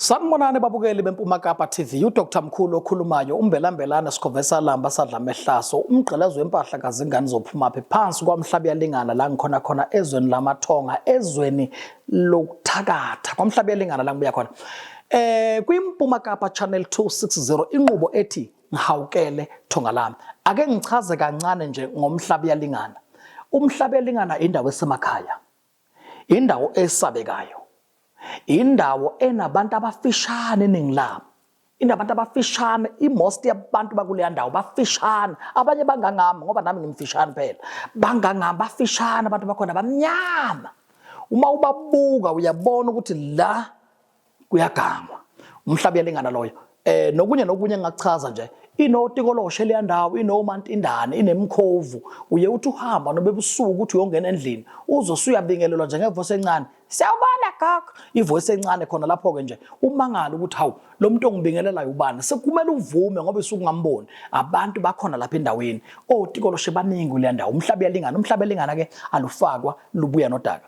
Sanibonani babukeli beMpuma Kapa TV uDr Mkhulu okhulumayo umbelambelana sikhovesa lamba sadla mehlaso umgqelazo wempahla kazingane zophumaphi phansi kwamhlaba yalingana la ngikhona khona ezweni lamathonga ezweni lokuthakatha kwamhlaba yalingana la ngibuya khona eh kwiMpuma Kapa Channel 260 inqubo ethi Ngihawukele thonga lami. Ake ngichaze kancane nje ngomhlaba yalingana. Umhlaba yalingana indawo esemakhaya. Indawo esabekayo. Indawo enabantu abafishane eningi labo. Inabantu abafishane, imost yabantu bakuleya ndawo bafishane. Abanye bangangami ngoba nami ngimfishane phela. Bangangami bafishane abantu bakhona bamnyama. Uma ubabuka uyabona ukuthi la kuyagangwa umhlaba uyalingana loyo eh nokunye nokunye engakuchaza nje inotikoloshe leya ndawo inomantindane inemkhovu uye uthi uhamba nobebusuku ukuthi uyongena endlini uzosuyabingelelwa njengevoice encane siyabona gogo ivoice encane khona lapho ke nje umangala ukuthi hawu lo muntu ongibingelelayo ubani sekumele uvume ngoba isuku ngamboni abantu bakhona lapha endaweni otikoloshe baningi leya ndawo umhlaba uyalingana umhlaba elingana ke alufakwa lubuya nodaka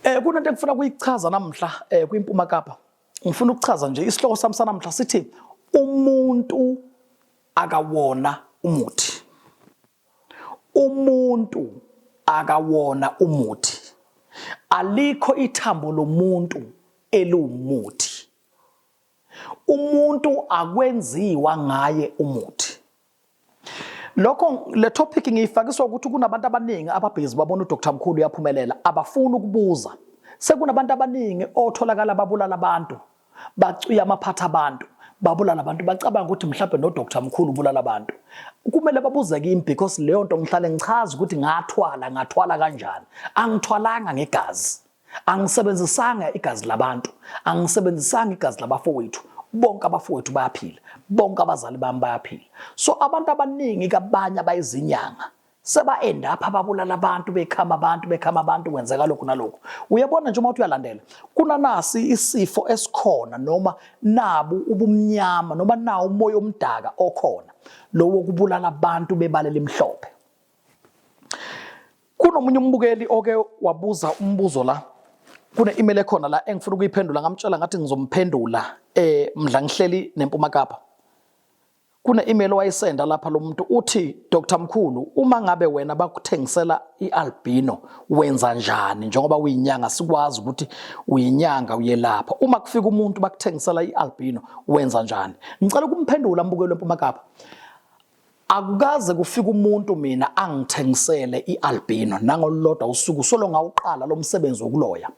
Eh kunento engifuna kuyichaza namhla eh kwiMpuma Kapa. Ngifuna ukuchaza nje isihloko sami sanamhla sithi umuntu akawona umuthi. Umuntu akawona umuthi. Alikho ithambo lomuntu eliwumuthi. Umuntu akwenziwa ngaye umuthi. Lokho le topic ngiyifakiswa ukuthi kunabantu abaningi ababhizi babona uDr Mkhulu uyaphumelela abafuni ukubuza. Sekunabantu abaningi otholakala babulala abantu, bacwiya amaphatha abantu, babulala abantu bacabanga ukuthi mhlawumbe noDr Mkhulu ubulala abantu. Kumele babuze kimi because leyo nto ngihlale ngichaza ukuthi ngathwala, ngathwala kanjani. Angithwalanga ngegazi. angisebenzisanga igazi labantu angisebenzisanga igazi labafowethu bonke abafowethu bayaphila bonke abazali bami bayaphila so abantu abaningi kabanye abayizinyanga seba-end up ababulala abantu bekhama abantu bekhama abantu kwenzeka lokhu nalokhu uyabona nje uma uthi uyalandela kunanasi isifo esikhona noma nabu ubumnyama noma nawo umoya omdaka okhona lowo kubulala abantu bebalela imhlophe Kunomunye umbukeli oke wabuza umbuzo la kune-email ekhona la engifuna ukuyiphendula ngamtshela ngathi ngizomphendula eh mdla ngihleli neMpuma Kapa kune-email owayisenda lapha lo muntu uthi Dr Mkhulu uma ngabe wena bakuthengisela i-albino wenza njani njengoba uyinyanga sikwazi ukuthi uyinyanga uyelapha uma kufika umuntu bakuthengisela i-albino wenza njani ngicela ukumphendula mbukelo eMpuma Kapa Akukaze kufika umuntu mina angithengisele ialbino nangolulodwa usuku solo ngawuqala lomsebenzi wokuloya.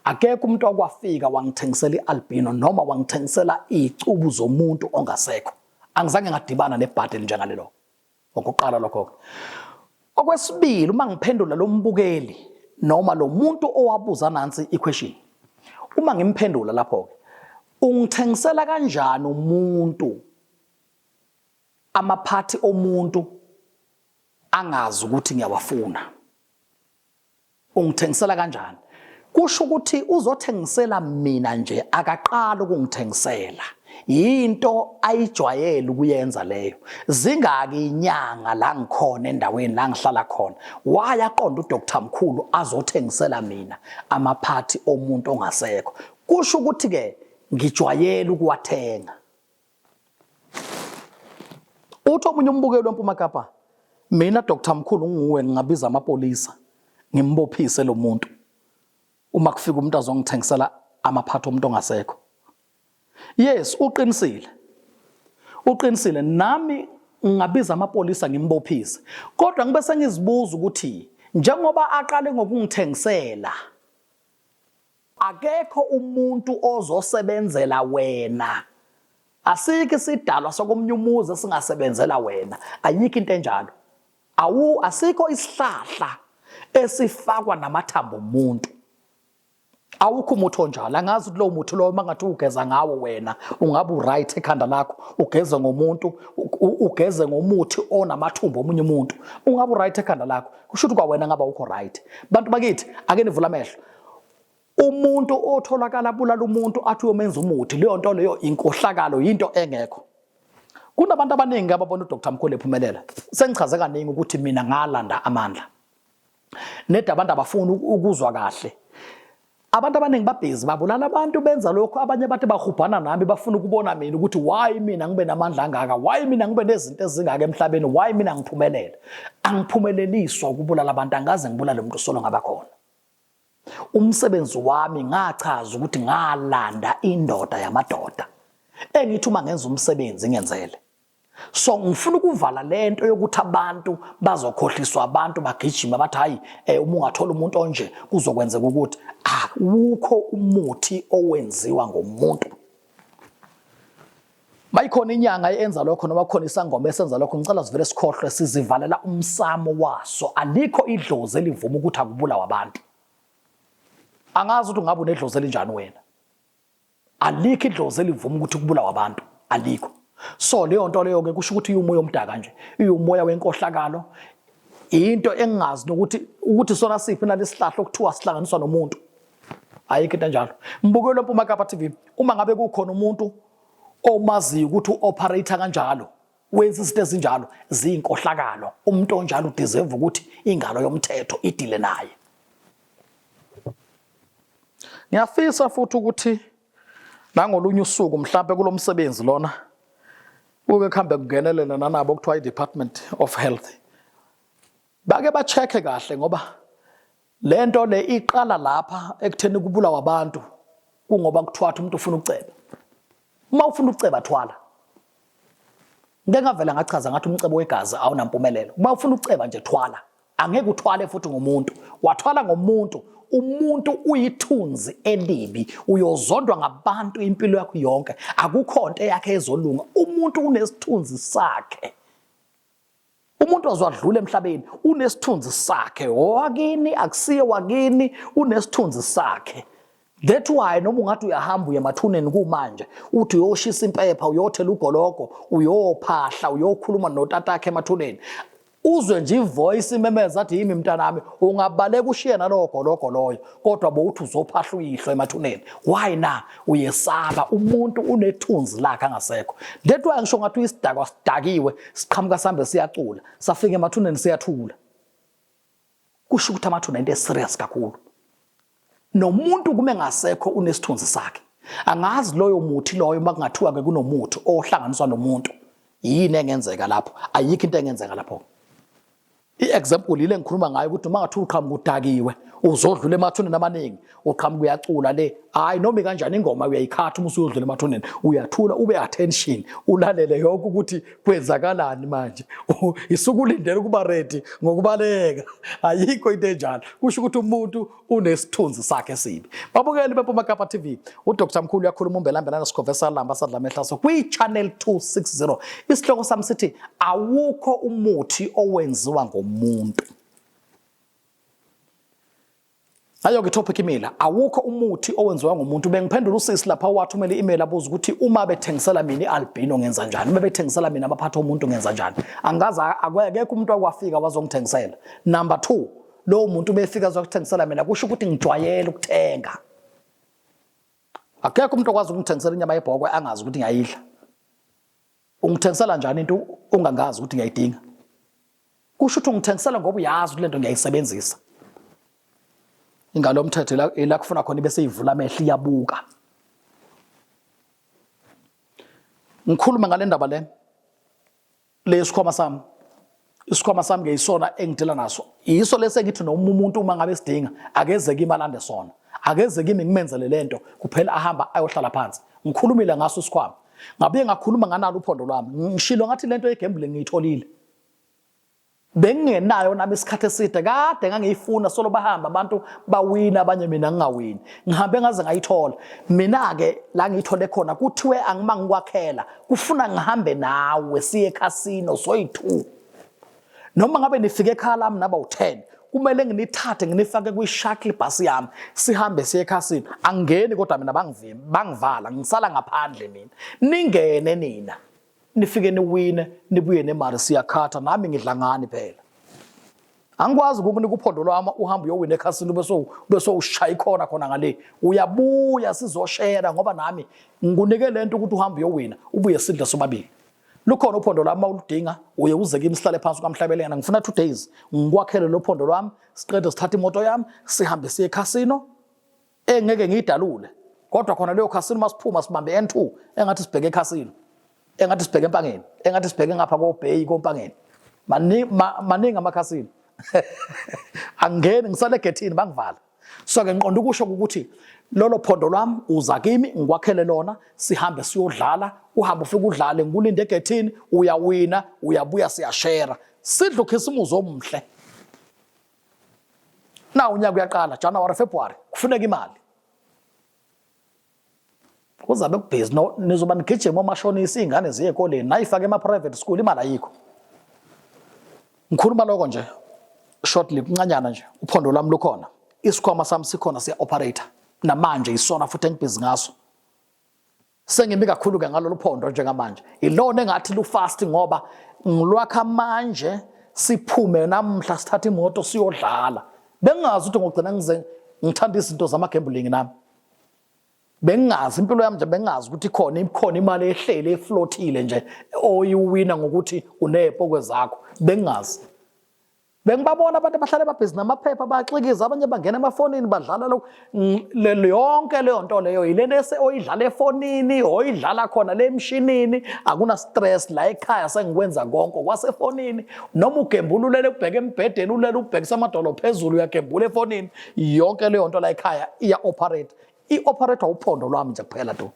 Akekho umuntu okwafika wangithengisela ialbino noma wangithengisela izicubu zomuntu ongasekho. Angizange ngadibana nebhadi elinjengalelo. Okuqala lokho. Okwesibili uma ngiphendula lombukeli noma lomuntu owabuza nansi iquestion. Uma ngimphendula lapho ke ungithengisela kanjani umuntu amaphathi omuntu angazi ukuthi ngiyawafuna ungithengisela kanjani kusho ukuthi uzothengisela mina nje akaqala ukungithengisela yinto ayijwayele ukuyenza leyo zingaki inyanga la ngikhona endaweni la ngihlala khona wayaqonda uDr Mkhulu azothengisela mina amaphathi omuntu ongasekho kusho ukuthi ke ngijwayele ukuwathenga Uthi omunye umbukeli weMpuma Kapa, mina Dr Mkhulu nguwe ngingabiza amapolisa ngimbophise lo muntu uma kufika umuntu azongithengisela amaphatha omuntu ongasekho. Yes, uqinisile. Uqinisile nami ngingabiza amapolisa ngimbophise. Kodwa ngibe sengizibuza ukuthi njengoba aqale ngokungithengisela akekho umuntu ozosebenzela wena asikho isidalwa sokomunye umuzi esingasebenzela wena ayikho into enjalo awu asikho isihlahla esifakwa namathambo omuntu awukho umuthi onjalo angazi ukuthi lowo muthi lowo mangathi ugeza ngawo wena ungabe uright ekhanda lakho ugeze ngomuntu ugeze ngomuthi onamathumbu omunye umuntu ungabe uright ekhanda lakho kusho ukuthi kwawena ngaba ukho right bantu bakithi ake nivula amehlo umuntu otholakala bulala umuntu athi uyomenza umuthi leyo nto leyo inkohlakalo yinto engekho kunabantu abaningi ababona uDr Mkhulu ephumelela sengichaze kaningi ukuthi mina ngalanda amandla neda abantu abafuni ukuzwa kahle abantu abaningi babhizi babulala abantu benza lokho abanye bathi bahubhana nami bafuna ukubona mina ukuthi why mina ngibe namandla angaka why mina ngibe nezinto ezingaka emhlabeni why mina ngiphumelele angiphumeleliswa ukubulala abantu angaze ngibulale umuntu solo ngabakhona umsebenzi wami ngachaza ukuthi ngalanda indoda yamadoda engithi uma ngenza umsebenzi ngenzele so ngifuna ukuvala lento yokuthi abantu bazokhohliswa abantu bagijima bathi hayi eh, uma ungathola umuntu onje kuzokwenzeka ukuthi akukho umuthi owenziwa ngomuntu Mayikhona inyanga eyenza lokho noma khona isangoma esenza lokho ngicela sivele sikhohlwe sizivalela umsamo waso alikho idlozi elivuma ukuthi akubulawa abantu angazi ukuthi ungabe unedlozi elinjani wena alikho idlozi elivuma ukuthi kubulawa abantu alikho so leyo nto leyo ke kusho ukuthi iwumoya omdaka nje iwumoya wenkohlakalo into engazi nokuthi ukuthi sona siphi nalesihlahla okuthiwa sihlanganiswa nomuntu ayikho into enjalo mbukelo mpuma kapa tv uma ngabe kukhona umuntu omaziyo ukuthi u-operator kanjalo wenza izinto ezinjalo ziyinkohlakalo umuntu onjalo udeserve ukuthi ingalo yomthetho idile naye ngiyafisa futhi ukuthi nangolunye usuku mhlawumbe kulo msebenzi lona kuke kuhambe kungenelela nanabo okuthiwa i-department of health bake ba-check-e kahle ngoba Le nto le iqala lapha ekutheni kubulawa abantu kungoba kuthwatha umuntu ufuna ukuceba. Uma ufuna ukuceba thwala. Ngeke ngavela ngachaza ngathi umcebo wegazi awunampumelelo. Uma ufuna ukuceba nje thwala. Angeke uthwale futhi ngomuntu. Wathwala ngomuntu umuntu uyithunzi elibi uyozondwa ngabantu impilo yakho yonke akukho nto yakhe ezolunga umuntu unesithunzi sakhe Umuntu ozwadlula emhlabeni unesithunzi sakhe owakini akusiye wakini unesithunzi sakhe that why noma ungathi uyahamba uye emathuneni kumanje uthi uyoshisa impepha uyothela ugologo uyophahla uyokhuluma notatakhe emathuneni uzwe nje ivoice imemeza athi yimi mntanami ungabaleka ushiye nalowo gologo loyo kodwa bowuthi uzophahla uyihlo emathuneni why na uyesaba umuntu unethunzi lakhe angasekho that why ngisho ngathi uyisidakwa sidakiwe siqhamuka sambe siyacula safika emathuneni siyathula kusho ukuthi amathuna into eserious kakhulu nomuntu kume ngasekho unesithunzi sakhe angazi loyo muthi loyo makungathiwa ke kunomuthi ohlanganiswa nomuntu yini engenzeka lapho ayikho into engenzeka lapho I-example yile ngikhuluma ngayo ukuthi uma ngathi uqhamuka udakiwe uzodlula emathuneni amaningi uqhamuka uyacula le hayi noma kanjani ingoma uyayikhatha uma usuyodlula emathuneni uyathula ube attention ulalele yonke ukuthi kwenzakalani manje isukulindele ukuba ready ngokubaleka ayikho into enjalo kusho ukuthi umuntu unesithunzi sakhe esibi babukeli beMpuma Kapa TV uDr Mkhulu uyakhuluma umbelambelana sikhove salamba sadla mehlaso kwi-channel 260 isihloko sami sithi awukho umuthi owenziwa ngomuntu ayo ke topic imela awukho umuthi owenziwa ngomuntu bengiphendula usisi lapha wathumela i-email abuza ukuthi uma bethengisela mina i-albino ngenza njani uma bethengisela mina amaphatha omuntu ngenza njani angazi akekho umuntu akwafika wazongithengisela number 2 lowo muntu ubefika azokuthengisela mina kusho ukuthi ngijwayele ukuthenga akekho umuntu okwazi ukungithengisela inyama yebhokwe angazi ukuthi ngiyayidla ungithengisela njani into ungangazi ukuthi ngiyayidinga kusho ukuthi ungithengisela ngoba uyazi ukuthi lento ngiyayisebenzisa ingalo mthetho ila kufuna khona ibe seyivula amehlo iyabuka ngikhuluma ngale ndaba le Le sikhwama sami isikhwama sami ke isona engidela naso yiso lesi engithi noma umuntu uma ngabe sidinga akeze kimi alande sona akeze kimi ngimenzele lento kuphela ahamba ayohlala phansi ngikhulumile ngaso isikhwama ngabuye ngakhuluma nganalo uphondo lwami ngishilo ngathi lento yegambling ngiyitholile bengingenayo nami isikhathi eside kade ngangiyifuna solo bahamba abantu bawina abanye mina ngingawini ngihambe ngaze ngayithola mina-ke la ngiyithole khona kuthiwe angima ngikwakhela kufuna ngihambe nawe siye ekhasino soyi-two noma ngabe nifike ekhaya lami naba u-ten kumele nginithathe nginifake kwi-shuttle bus yami sihambe siye ekhasini angingeni kodwa mina bangivala ngisala ngaphandle mina ningene nina nifike niwine nibuye nemali siyakhatha nami ngidla ngani phela angikwazi ukukunika uphondo lwami uhambe uyowina ekhasini ube sowushaya ikhona khona ngale uyabuya sizoshera ngoba nami ngikunike le nto ukuthi uhambe uyowina ubuye sidle sobabili lukhona uphondo lwami mawuludinga uye uze kimi sihlale phansi kwamhlabelengana ngifuna two days ngikwakhele lo phondo lwami siqede sithathe imoto yami sihambe siye ekhasino engeke ngiyidalule kodwa khona leyo khasini uma siphuma sibambe n2 engathi sibheke ekhasini engathi sibheke empangeni engathi sibheke ngapha kobheyi kompangeni maningi amakhasini angeni ngisale egethini bangivala so ke ngiqonda ukusho ukuthi lolo phondo lwami uza kimi ngikwakhele lona sihambe siyodlala uhambe ufike udlale ngikulinde egethini uyawina uyabuya siyashera sidla ukhisimuzi omhle na unyaka uyaqala January February kufuneka imali kuzabe kubhizi no nizoba nigijima omashonisa izingane ziye ekoleni nayifake ema private school imali ayikho ngikhuluma lokho nje shortly kuncanyana nje uphondo lami lukhona isikhwama sami sikhona siya operator namanje isona futhi engibhizi ngaso Sengimi kakhulu-ke ngalolu phondo njengamanje, ilona engathi lufasti ngoba ngilwakha manje siphume namuhla sithathe imoto siyodlala bengingazi ukuthi ngogcina ngize ngithanda izinto zama-gambling nami bengingazi impilo yami nje bengingazi ukuthi khona ikhona imali ehlele eflothile nje oyiwina ngokuthi uneepokwe zakho bengingazi Bengibabona abantu abahlale babhizi namaphepha bayaxikiza abanye bangena emafonini badlala lokhu yonke leyo nto leyo yilento ese oyidlala efonini oyidlala khona le mshinini akuna stress la ekhaya sengikwenza konke kwasefonini noma ugembululele ubheke embhedeni ulele ubhekisa amadolo phezulu uyagembula efonini yonke leyo nto la ekhaya iya operate i operator uphondo lwami nje kuphela tu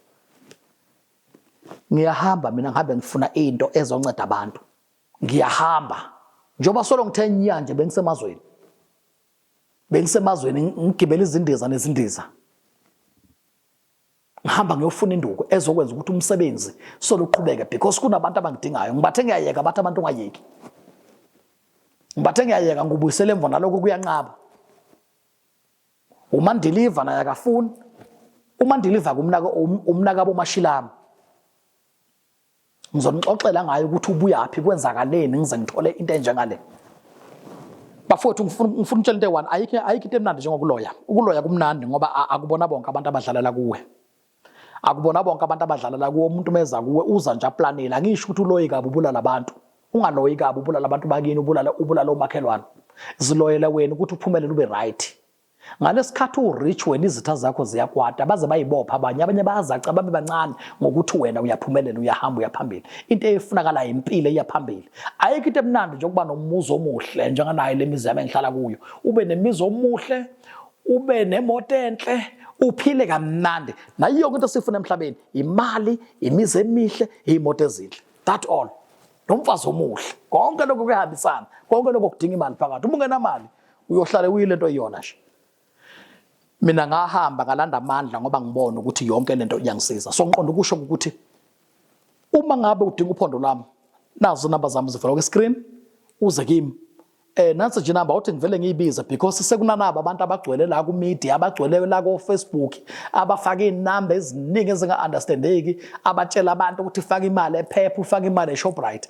ngiyahamba mina ngihambe ngifuna into ezonceda abantu ngiyahamba njengoba solo ngithe nya nje bengisemazweni bengisemazweni ngigibela izindiza nezindiza ngihamba ngiyofuna induku ezokwenza ukuthi umsebenzi soluqhubeke because kunabantu abangidingayo ngibathe ngiyayeka bathi abantu ungayeki ngibathe ngiyayeka ngubuyisele emva naloko kuyanqaba umandiliva naye akafuni umandiliva kumnaka umnaka bomashilami ngizonixoxela ngayo ukuthi ubuyaphi kwenzakaleni ngize ngithole into enjengale bafowethu ngifuna ngifuna utshela into eyi-one ayikho ayikho into emnandi njengokuloya ukuloya kumnandi ngoba akubona bonke abantu abadlalela kuwe akubona bonke abantu abadlalela kuwe umuntu meza kuwe uza nje aplanile angisho ukuthi uloyi kabi ubulala abantu ungaloyi kabi ubulala abantu bakini ubulala ubulala omakhelwane ziloyele wena ukuthi uphumelele ube right Ngalesikhathi uwurich wena izitha zakho ziyakwata baze bayibopha abanye abanye bayazaca babe bancane ngokuthi wena uyaphumelela uyahamba uyaphambili into eyifunakalayo impilo iyaphambili ayikho into emnandi nje ukuba nomuzi omuhle njenganayo lemizi yami engihlala kuyo ube nemizi omuhle ube nemoto enhle uphile kamnandi nayo yonke into esifuna emhlabeni imali imizi emihle imoto ezinhle that all nomfazi omuhle konke lokho kuyahambisana konke lokho kudinga imali phakathi uma ungenamali uyohlale uyile nto iyona nje mina ngahamba ngalanda amandla ngoba ngibona ukuthi yonke lento iyangisiza so ngiqonda ukusho ukuthi uma ngabe udinga uphondo lami nazo inamba zami zivela kwi-screen uze kimi eh nansi nje namba uthi ngivele ngiyibize because sekunanaba abantu abagcwele la ku media abagcwele la ku Facebook abafaka inamba eziningi ezinga understandeki abatshela abantu ukuthi faka imali ephepha ufaka imali eShoprite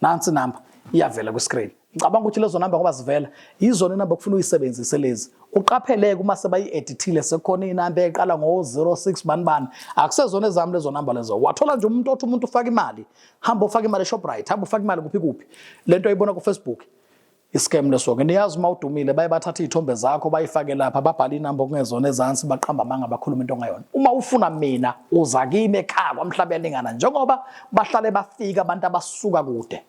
nansi inamba iyavela kwi-screen ngicabanga ukuthi lezo namba ngoba zivela yizona inamba kufuna uyisebenzise lezi uqapheleke uma sebayi-edithile sekukhona inamba eqala ngo-06 bani bani akusezona ezami lezo namba lezo wathola nje umuntu othi umuntu ufaka imali hamba ufaka imali eshoprite hamba ufaka imali kuphi kuphi le nto ayibona kufacebook Iscam leso ke niyazi uma udumile baye bathatha izithombe zakho bayifake lapha babhala inamba okungezona ezansi baqamba amanga bakhuluma into ongayona. Uma ufuna mina uza kimi ekhaya kwamhlaba yalingana njengoba bahlale bafika abantu abasuka kude.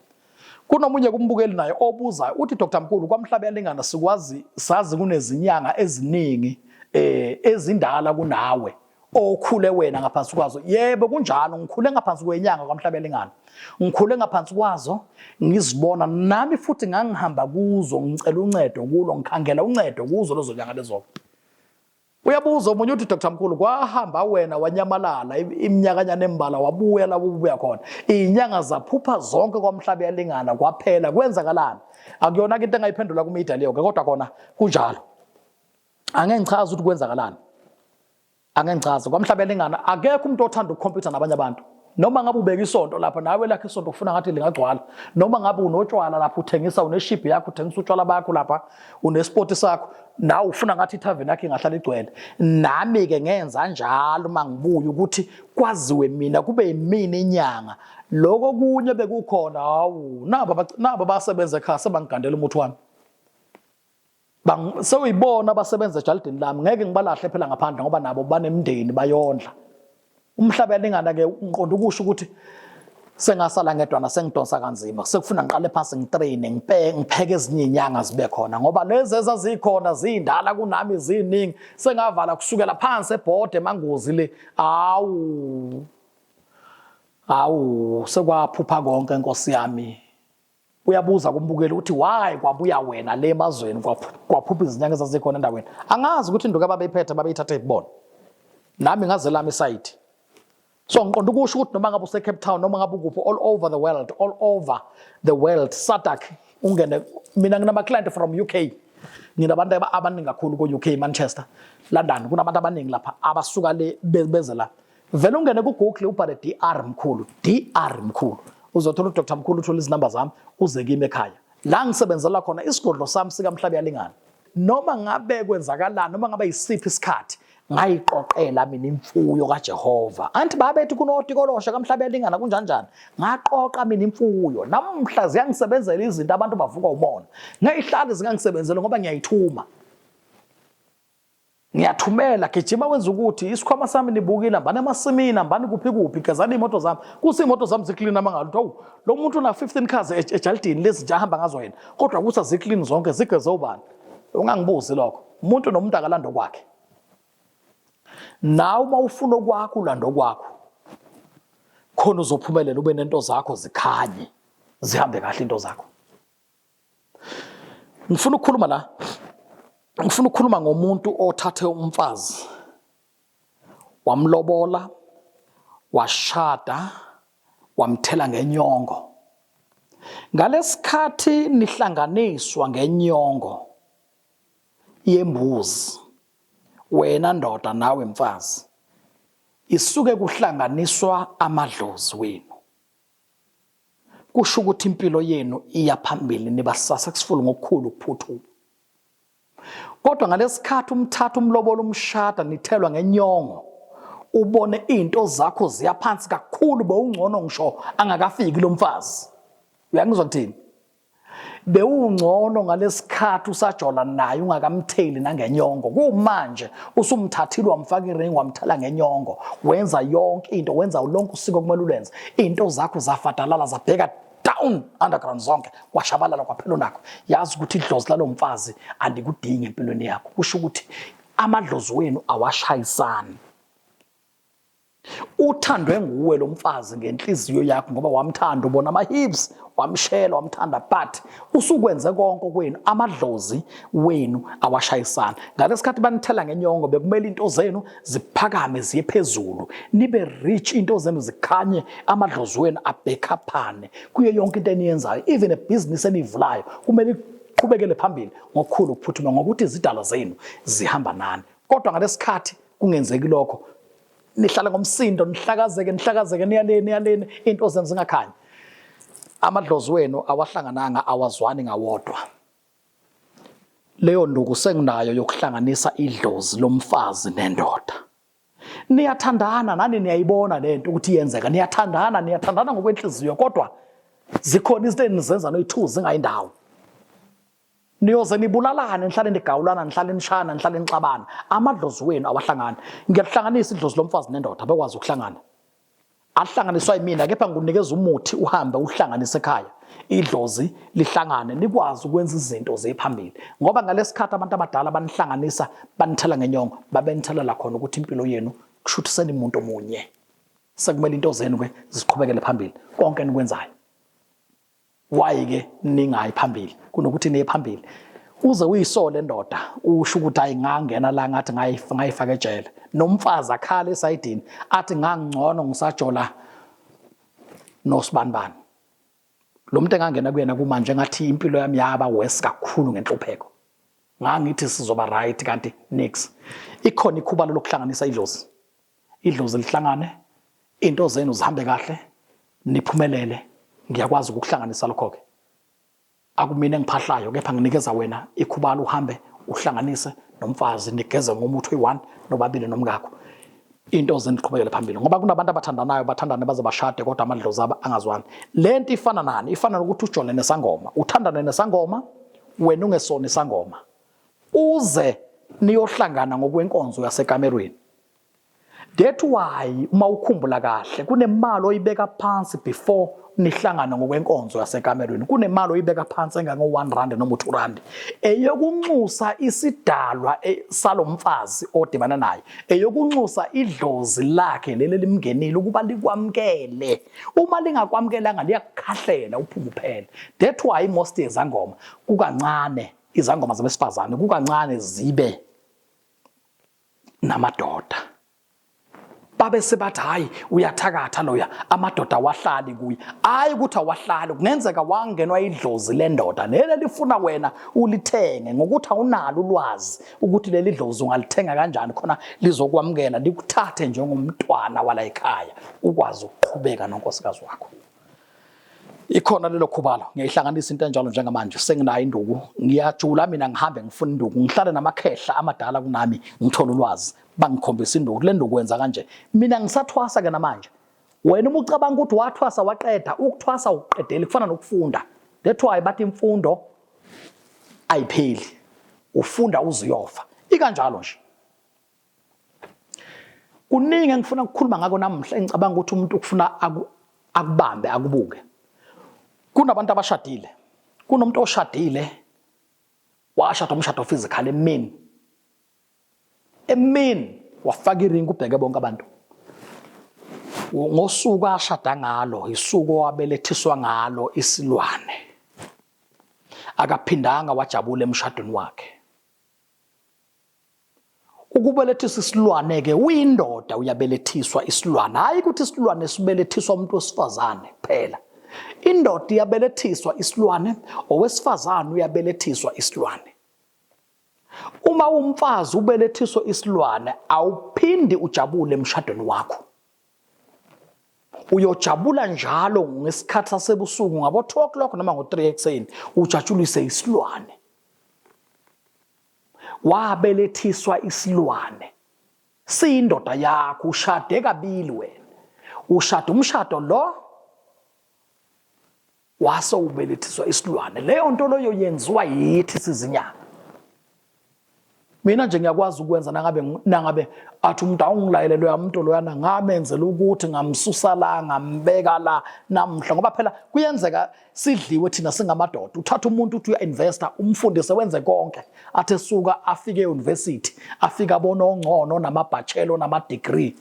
Kunomunye kumbukeli naye obuzayo uthi Dr Mkulu kwamhlaba yalingana sikwazi sazi kunezinyanga eziningi eh ezindala kunawe. okhule wena ngaphansi kwazo yebo kunjalo ngikhule ngaphansi kwenyanga kwamhlabelingana ngikhule ngaphansi kwazo ngizibona nami futhi ngangihamba kuzo ngicela uncedo kulo ngikhangela uncedo kuzo lezo nyanga lezo uyabuza omunye uthi Dr Mkhulu kwahamba wena wanyamalala iminyakanyana embala wabuya la ubuya khona inyanga zaphupha zonke kwamhlabe yalingana kwaphela kwenzakalani akuyona into engayiphendula kumedia leyo ke kodwa kona kunjalo angeke ngichaze ukuthi kwenzakalani angeke ngichaze kwamhlaba elingana akekho umuntu othanda ukukhompyutha nabanye abantu noma ngabe ubeka isonto lapha nawe lakhe isonto ufuna ngathi lingagcwala noma ngabe unotshwala lapha uthengisa uneshibhi yakho uthengisa utshwala bakho lapha unesipoti sakho nawe ufuna ngathi ithaveni yakho ingahlala igcwele nami-ke ngenza njalo uma ngibuye ukuthi kwaziwe mina kube yimina inyanga loko kunye bekukhona hawu nabo basebenza ekhaya sebangigandela umuthi wami sewuyibona abasebenza ejalidini lami ngeke ngibalahle phela ngaphandle ngoba nabo banemndeni bayondla umhlaba yalingana ke ngiqonda ukusho ukuthi sengasala ngedwana sengidonsa kanzima sekufuna ngiqale phansi ngitraine ngipeke ngipheke ezinye inyanga zibe khona ngoba lezi ezazikhona zindala kunami ziningi sengavala kusukela phansi ebhode emangozi le awu awu sekwaphupha konke inkosi yami uyabuza kumbukeli ukuthi why kwabuya wena le emazweni kwaphupha izinyanga ezazikhona endaweni angazi ukuthi induka babeyiphethe babeyithathe ibona nami ngaze lami isayithi so ngiqonda ukusho ukuthi noma ngabe usecape town noma ngabe ukuphi all over the world all over the world sadak ungene mina nginamaclient from u k nginabantu abaningi kakhulu ko-UK Manchester London kunabantu abaningi lapha abasuka le beze la Vele ungene ku Google ubhale DR mkhulu, DR mkhulu. Uzothola uDr Mkhulu uthola izinamba zami uze kimi ekhaya. La ngisebenzela khona isigodlo sami sika Mhlabi yalingana. Noma ngabe kwenzakalani noma ngabe isiphi isikhathi ngayiqoqela mina imfuyo kaJehova. Anti babethi kunotikolosha kamhlabe yalingana kunjani njani. Ngaqoqa mina imfuyo. Namhla ziyangisebenzela izinto abantu bavuka umona. Ngeyihlali zingangisebenzela ngoba ngiyayithuma. ngiyathumela gijima wenza ukuthi isikhwama sami nibukile hambani emasimini hambani kuphi kuphi gezani iy'moto zami kuthi iy'moto zami ziklini amangalo ukuthi awu lo muntu una-fifteen cars e-, ejalidini lezi nje ahamba ngazo yena kodwa ukuthi aziklini zonke zigeze ubani ungangibuzi lokho umuntu nomuntu akalanda okwakhe nawe uma ufuna okwakho ulanda okwakho khona uzophumelela ube nento zakho zikhanye zihambe kahle into zakho Ngifuna ukukhuluma la, ngifuna ukukhuluma ngomuntu othathe umfazi wamlobola, washada, wamthela ngenyongo. Ngalesikhathi nihlanganiswa ngenyongo yembuzi, wena ndoda nawe mfazi, isuke kuhlanganiswa amadlozi wenu. kusho ukuthi impilo yenu iya phambili niba successful ngokukhulu ukuphuthuma kodwa ngalesikhathi umthatha umlobola umshada nithelwa ngenyongo ubone izinto zakho ziya phansi kakhulu bowungcono ngisho angakafiki lo mfazi uyangizwa kuthini bewungcono ngalesikhathi usajola naye ungakamtheli nangenyongo kumanje usumthathile wamfaka iring wamthela ngenyongo wenza yonke into wenza lonke usiko kumele ulenze into zakho zafadalala zabheka down underground zonke kwashabalala kwaphela nakho yazi ukuthi idlozi lalomfazi andikudingi empilweni yakho kusho ukuthi amadlozi wenu awashayisani Uthandwe nguwe lo mfazi ngenhliziyo yakho ngoba wamthanda ubona ama-hips wamshela wamthanda but usukwenze konke kwenu amadlozi wenu awashayisana ngale sikhathi banithela ngenyongo bekumele into zenu ziphakame ziye phezulu nibe rich into zenu zikhanye amadlozi wenu abhekhaphane kuyo yonke into eniyenzayo even a business enivulayo kumele iqhubekele phambili ngokukhulu ukuphuthuma ngokuthi izidalwa zenu zihamba nani kodwa ngalesikhathi kungenzeki lokho nihlala ngomsindo nihlakazeke nihlakazeke niyaleni niyaleni into zenu zingakhanyi amadlozi wenu awahlangananga awazwani ngawodwa leyo nduku senginayo yokuhlanganisa idlozi lomfazi nendoda niyathandana nani niyayibona lento ukuthi iyenzeka niyathandana niyathandana ngokwenhliziyo kodwa zikhona izinto enizenza noyi-2 zingayindawo niyoze nibulalane nihlale nigawulana nihlale nishana nihlale nixabana amadlozi wenu awahlangani ngiyalihlanganisa idlozi lomfazi nendoda abekwazi ukuhlangana ahlanganiswa yimina kepha ngikunikeza umuthi uhambe uhlanganise ekhaya idlozi lihlangane nikwazi ukwenza izinto zephambili ngoba ngalesikhathi abantu abadala banihlanganisa banithela ngenyongo babenithelala khona ukuthi impilo yenu kushuthi senimuntu omunye sekumele into zenu ke ziqhubekele phambili konke enikwenzayo why ke ningayi phambili kunokuthi niye phambili uze uyisole lendoda usho ukuthi ayi ngangena la ngathi ngayifaka ejele nomfazi akhala esayidini athi ngangcono ngisajola nosibanibani lo muntu engangena kuyena kumanje ngathi impilo yami yaba worse kakhulu ngenhlupheko ngangithi sizoba right kanti nix ikhona ikhubalo lokuhlanganisa idlozi idlozi lihlangane into zenu zihambe kahle niphumelele ngiyakwazi ukukuhlanganisa lokho-ke akumina engiphahlayo kepha nginikeza wena ikhubalo uhambe uhlanganise nomfazi nigeze ngomuthi oyi-one nobabili nomngakho into zeniqhubekele phambili ngoba kunabantu abathandanayo bathandane baze bashade kodwa amadlozi aba angazwani le nto ifana nani ifana nokuthi ujole nesangoma uthandane nesangoma wena ungesona isangoma uze niyohlangana ngokwenkonzo yasekamerweni That why uma ukhumbula kahle kunemali oyibeka phansi before nihlangane ngokwenkonzo yasekamerweni kunemali oyibeka phansi engango-1 rand noma u-2 rand eyokunxusa isidalwa e, salo mfazi odibana naye eyokunxusa idlozi lakhe leli elimngenile ukuba likwamukele uma lingakwamukelanga liyakukhahlela uphume uphele that why most yezangoma kukancane izangoma zabesifazane kukancane zibe namadoda babe sebathi hayi uyathakatha loya amadoda awahlali kuye hayi ukuthi awahlali kungenzeka wangenwa idlozi lendoda lele lifuna wena ulithenge ngokuthi awunalo ulwazi ukuthi leli dlozi ungalithenga kanjani khona lizokwamukela likuthathe njengomntwana wala ekhaya ukwazi ukuqhubeka nonkosikazi wakho ikhona lelo khubalo ngiyayihlanganisa into enjalo njengamanje senginayo induku ngiyajula mina ngihambe ngifuna induku ngihlale namakhehla amadala kunami ngithola ulwazi bangikhombisa induku le nduku wenza kanje mina ngisathwasa ke namanje wena uma ucabanga ukuthi wathwasa waqeda ukuthwasa ukuqedela kufana nokufunda that's why bathi imfundo ayipheli ufunda uze uyofa ikanjalo nje kuningi engifuna ukukhuluma ngako namuhla engicabanga ukuthi umuntu ukufuna akubambe akubuke kunabantu abashadile kunomuntu oshadile washada umshado physical emini emini wafaka iringi ubheke bonke abantu ngosuku ashada ngalo isuku owabelethiswa ngalo isilwane akaphindanga wajabula emshadweni wakhe Ukubelethisa isilwane-ke uyindoda uyabelethiswa isilwane, hhayi ukuthi isilwane sibelethiswa umuntu wesifazane kuphela. Indoda iyabelethiswa isilwane, owesifazane uyabelethiswa isilwane. Uma umfazi ubelethiswa isilwane, awuphindi ujabule emshadweni wakho. Uyojabula njalo ngesikhathi sasebusuku ngabo-2 o'clock noma ngo-3 ekuseni, ujatshulise isilwane. wabelethiswa isilwane siyindoda yakho ushade kabili wena ushada umshado lo wase ubelethiswa isilwane leyo nto loyo yenziwa yithi sizinyanga mina nje ngiyakwazi ukwenza nangabe nangabe athi umuntu awungilayele loya muntu loyana ngamenzela ukuthi ngamsusa la ngambeka la namhla ngoba phela kuyenzeka sidliwe thina singamadoda uthatha umuntu uthi uya-investa umfundise wenze konke athi esuka afike e-university afike abone ongcono namabhachelo namadegree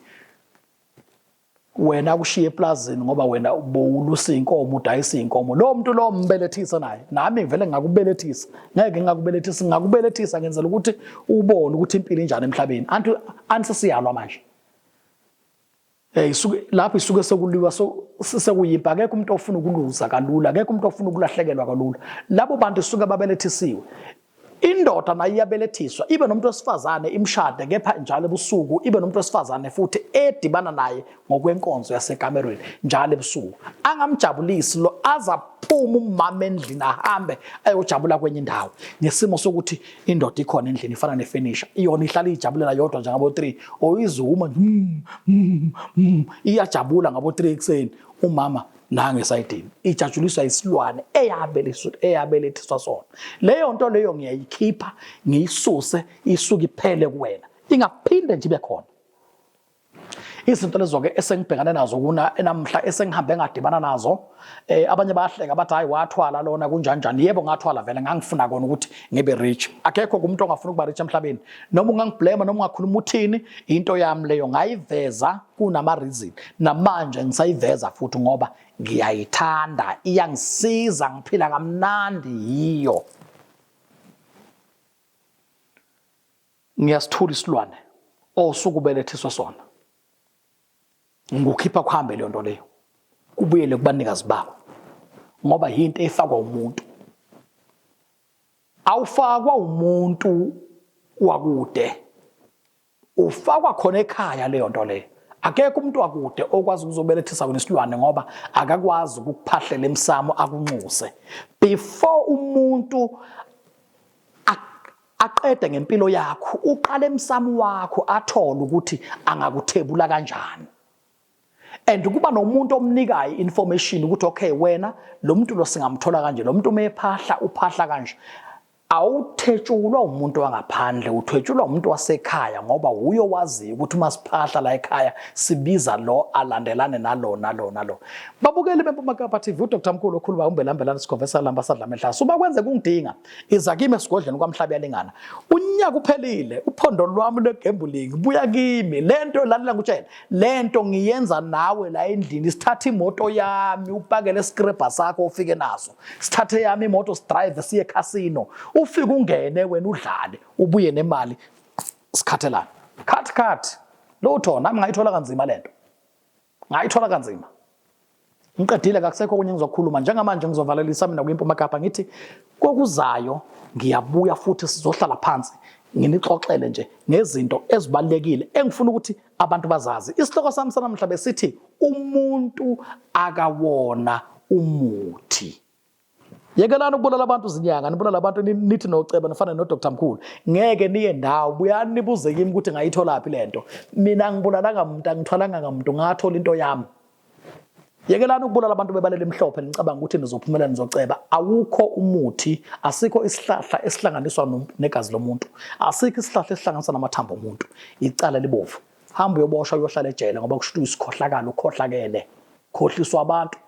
wena kushiye eplazini ngoba wena ubowulusa inkomo udayisa inkomo lo muntu lo mbelethisa naye nami ngivele ngakubelethisa ngeke ngakubelethisa ngakubelethisa ngenzela ukuthi ubone ukuthi impilo injani emhlabeni anti ansisiyalwa manje Eh isuke lapho isuke sekuliwa so sekuyimpa akekho umuntu ofuna ukuluza kalula akekho umuntu ofuna ukulahlekelwa kalula labo bantu suke babelethisiwe indoda nayo iyabelethiswa ibe nomuntu wesifazane imshade kepha njalo ebusuku ibe nomuntu wesifazane futhi edibana naye ngokwenkonzo yasekamerweni njalo ebusuku angamjabulisi lo azaphuma umama endlini ahambe ayojabula kwenye indawo ngesimo sokuthi indoda ikhona endlini ifana nefenisha iyona ihlala iyijabulela yodwa njengabo-three or izuma mm, mm, mm, iyajabula ngabo-three ekuseni umama nange esayidini ijatshuliswa isilwane eyabelethiswa sona leyo nto leyo ngiyayikhipha ngiyisuse isuke iphele kuwena ingaphinde nje ibe khona izinto lezo-ke esengibhekane nazo kuna enamhla esengihambe ngadibana nazo eh abanye bayahleka bathi hayi wathwala lona kunjanjani yebo ngathwala vele ngangifuna kona ukuthi ngibe rich akekho kumuntu ongafuna ukuba rich emhlabeni noma ungangiblema noma ungakhuluma uthini into yami leyo ngayiveza kunama reason namanje ngisayiveza futhi ngoba ngiyayithanda iyangisiza ngiphila kamnandi yiyo Ngiyasithula isilwane osuku belethiswe sona. Ngikukhipha kuhambe leyo nto leyo. Kubuyele kubanikazi bako. Ngoba yinto efakwa umuntu. Awufakwa umuntu wakude. Ufakwa khona ekhaya leyo nto leyo. Akekho umuntu wakude okwazi ukuzobelethisa wena isilwane ngoba akakwazi ukukuphahlela emsamo akunxuse. Before umuntu aqede ngempilo yakho uqale emsamo wakho athole ukuthi angakuthebula kanjani and kuba nomuntu omnikayo information ukuthi okay wena lo muntu lo singamthola kanje lo muntu umephahla uphahla kanje awuthetshulwa umuntu wangaphandle uthwetshulwa umuntu wasekhaya ngoba wuyo waziyo ukuthi uma siphahla la ekhaya sibiza lo alandelane nalo nalo nalo babukeli beMpuma Kapa TV uDr Mkhulu okhuluma umbelambelana sikhonvesa lamba sadla menhlasi uma kwenze kungidinga iza kimi esigodlweni kwamhlabiyalingana unyaka uphelile uphondo lwami lwegambling buya kimi lento lalela ngikutshela lento ngiyenza nawe la endlini sithatha imoto yami upakele scraper sakho ufike naso sithathe yami imoto sidrive siye casino ufike ungene wena udlale ubuye nemali sikhathelana cut cut lutho nami ngayithola kanzima lento ngayithola kanzima ngiqedile kakusekho okunye ngizokhuluma njengamanje ngizovalelisa mina kwimpuma kapa ngithi kokuzayo ngiyabuya futhi sizohlala phansi nginixoxele nje ngezinto ezibalekile engifuna ukuthi abantu bazazi isihloko sami sanamhla besithi umuntu akawona umuthi yekelani ukubulala abantu zinyanga nibulala abantu nithi noceba nifane nodr mkhulu ngeke niye ndawo buyani nibuze kimi ukuthi ngayitholaphi le nto mina ngibulalanga muntu angithwalanga ngamuntu ngathola into yami yekelani ukubulala abantu bebalele emhlophe nicabanga ukuthi nizophumela nizoceba awukho umuthi asikho isihlahla esihlanganiswa negazi lomuntu asikho isihlahla esihlanganiswa namathambo omuntu icala libovu hamba uyoboshwa uyohlala ejele ngoba kushuthi uyisikhohlakala ukhohlakele khohliswa abantu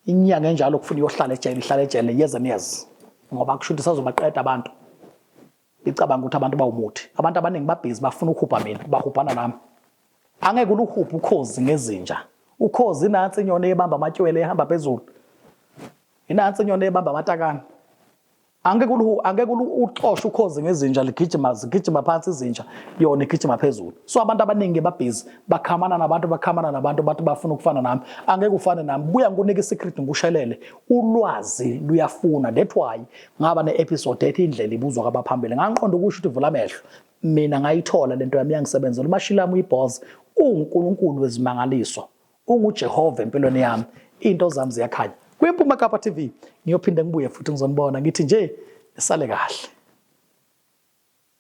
Inyanga enjalo kufuna iyohlala ejele, ihlala ejele years and years. Ngoba kusho ukuthi sazobaqeda abantu. Icabanga ukuthi abantu bawumuthi. Abantu abaningi babhizi bafuna ukuhubha mina, bahubhana nami. Angeke uluhubhe ukhozi ngezinja. Ukhozi nansi inyoni ebamba amatywele ehamba phezulu. Inansi inyoni ebamba amatakane. Angeke ulu angeke ulu uxoshe ukhozi ngezinja ligijima zigijima phansi izinja yona igijima phezulu. So abantu abaningi babhizi bakhamana nabantu bakhamana nabantu bathi bafuna ukufana nami. Angeke ufane nami. Buya ngikunika isecret ngikushelele. Ulwazi luyafuna. That why ngaba neepisode ethi indlela ibuzwa kwabaphambili. Ngangiqonda ukusho ukuthi vula amehlo. Mina ngayithola lento yami yangisebenzela umashilami uyibhozi uNkulunkulu wezimangaliso. UnguJehova empilweni yami, into zami ziyakhanya. KwiMpuma Kapa TV ngiyophinde ngibuye futhi ngizonibona ngithi nje nisale kahle.